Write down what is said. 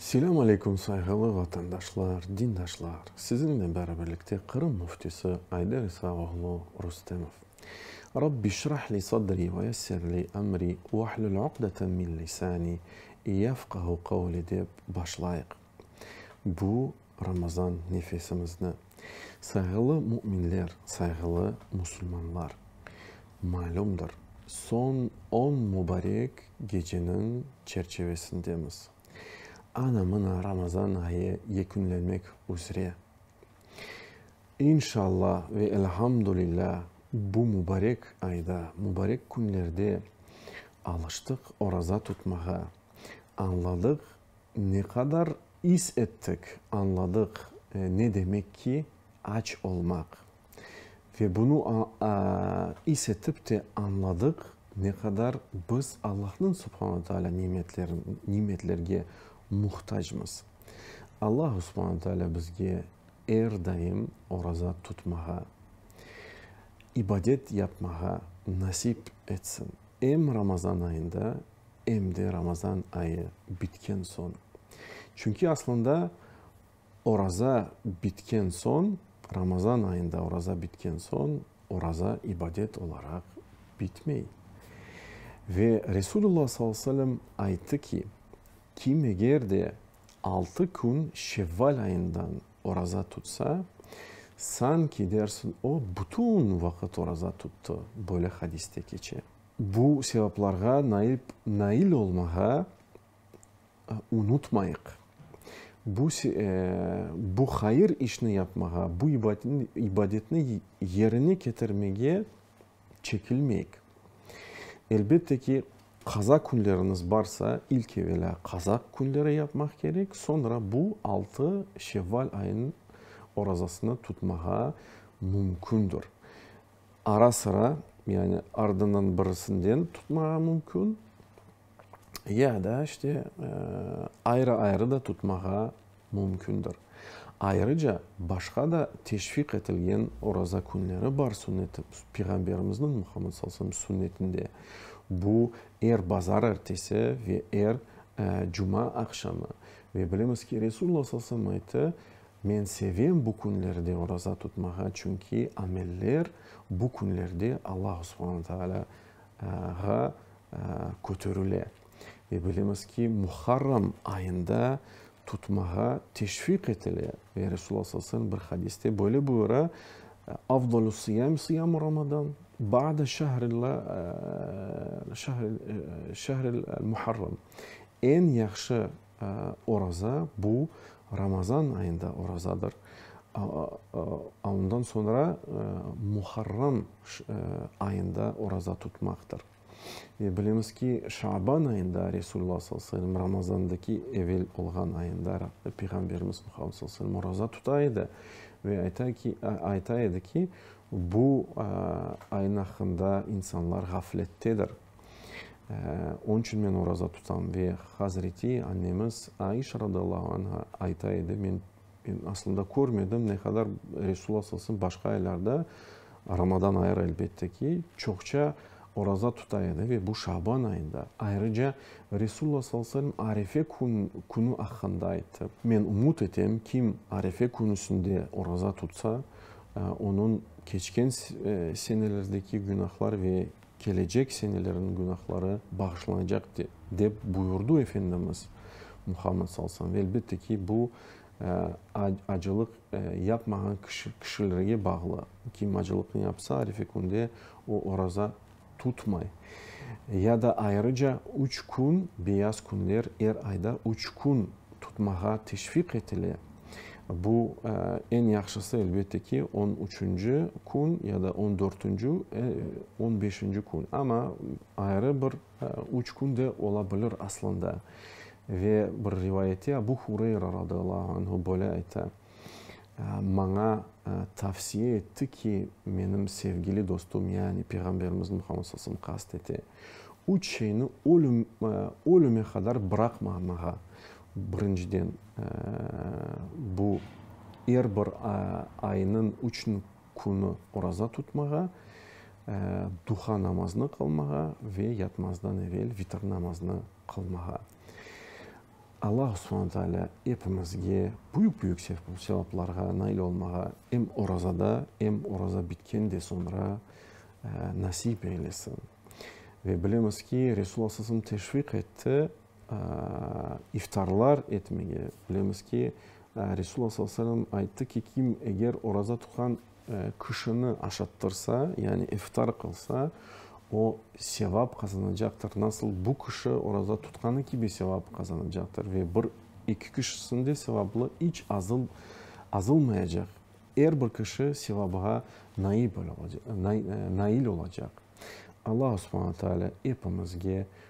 Selâm aleykum, sayğılı vatandaşlar, dindaşlar! Siziñle beraberlikte Qırım Müftisi Ayder İsa oğlu Rustemov. Rabbi şrah li sadri ve yessir li emri vahlul uqdeten min lisani yefqahu qavli dep başlayıq. Bu Ramazan nefesimizni. Sayğılı müminler, sayğılı musulmanlar! Malümdir, soñ on mubarek geceniñ çerçevesindemiz. Ana-mına Ramazan ayı yekünlenmek üzre. İnşalla ve elhamdülilla bu mubarek ayda, mubarek künlerde alıştıq oraza tutmağa, añladıq Ne qadar is ettik, añladıq, ne demek ki, aç olmaq. Ve bunı is etip de añladıq, ne qadar biz Allahnıñ subhana taalâ nimetlerge muhtacmız. Allah subhana taalâ bizge er daim oraza tutmağa, ibadet yapmağa nasip etsin. Em Ramazan ayında, em de Ramazan ayı bitken soñ. Çünki aslında oraza bitken soñ, Ramazan ayında oraza bitken soñ, oraza ibadet olaraq bitmey. Ve Resulullah sallallahu aleyhi ve sellem ayttı ki, kim eger de altı kün Şevval ayından oraza tutsa, sanki dersiñ o, bütün vaqıt oraza tuttı, böyle hadiste keçe. Bu sevaplarğa nail nail olmağa unutmayıq. Bu se bu hayır işni yapmağa, bu ibadetni ibadetni yerine ketirmege çekilmeyik. Elbette ki, qaza künleriniz barsa, ilk evelâ qaza künleri yapmaq kerek, soñra bu altı şevval ayınıñ orazasını tutmağa mümkündir. Ara-sıra, yani ardından birisinden tutmağa mümkün, ya da işte ayrı-ayrı da tutmağa mümkündir. Ayrıca başqa da teşviq etilgen oraza künleri bar sünneti, Peyğamberimizniñ, Muhammed sallallahu aleyhi ve sellem, sünnetinde. Bu, er bazar ertesi ve er cuma aqşamı. Ve bilemiz ki, Resulullah sallallahu aleyhi ve sellem ayttı, Men sevem bu künlerde oraza tutmağa, çünki ameller bu künlerde Allahu subhanu taalâ ğa köterile. Ve bilemiz ki, Muharram ayında tutmağa teşviq etile. Ve Resulullah sallallahu aleyhi ve sellem bir hadiste böyle buyura, Afdalü sıyâm sıyâm-u Ramadan, ba'de şehril Muharram. Eñ yahşı Oraza, bu Ramazan ayında orazadır. Ondan soñra Muharram ayında oraza tutmaqtır. Ve bilemiz ki, Şaban ayında Resulullah sallallahu aleyhi ve sellem Ramazandaki evel olğan ayında Peyğamberimiz Muhammed sallallahu aleyhi ve sellem oraza tuta edi. Ve ayta ki, ayta edi ki, bu ayın aqqında insanlar ğaflettedir. Onıñ içün men oraza tutam. Ve hazreti annemiz Aişa radıyallahu anha ayta edi, men aslında körmedim, ne qadar Resulullah sallallahu aleyhi ve selem başqa aylarda, Ramadan ayırı elbette ki, çoqça oraza tuta edi. Ve bu Şaban ayında. Ayrıca Resulullah sallallahu aleyhi ve selem Arefe künü aqqında ayttı. Men ümüt etem, kim Arefe künüsinde oraza tutsa, onıñ keçken senelerdeki günahlar ve kelecek senelerin günahları bağışlanacaq, dep buyurdu Efendimiz Muhammed sal sam. Ve elbette ki, bu acılıq yapmağan kişilerge bağlı. Kim acılıq ne yapsa, Arife künde o oraza tutmay. Ya da ayrıca üç kün, beyaz künler, er ayda üç kün tutmağa teşviq etile. Bu, eñ yahşısı, elbette ki, on üçünci kün ya da on dörtünci, on beşinci kün. Amma ayrı bir üç kün de ola bilir aslında. Ve bir rivayette Abu Hureyra radıyallahu anhu böyle ayta, Maña tavsiye etti ki, menim sevgili dostum, yani Peyğamberimiz Muhammed sallallahu aleyhi ve sellem qast ete, üç şeyni ölüm, ölüme qadar bıraqmamağa, Birinciden, bu, er bir aynıñ üç künü oraza tutmağa, duha namazını qılmağa ve yatmazdan evel vitr namazını qılmağa. Allahu subhane taalâ epimizge büyük-büyük sevaplarğa nail olmağa em orazada, em oraza bitken de soñra nasip eylesin. Ve bilemiz ki, Resul aleyhisselam teşviq etti, iftarlar etmege. Bilemiz ki, Resul Alla sallallahu aleyhi ve sellem ayttı ki, kim eger oraza tutqan kişini aşattırsa, yani iftar qılsa, o sevap qazanacaqtır. Nasıl bu kişi oraza tutqanı kibi sevap qazanacaqtır ve bir, eki kişisiniñ de sevabı iç azalmayacaq. Er bir kişi sevabğa nail olacaq. Alla subhane taala epimizge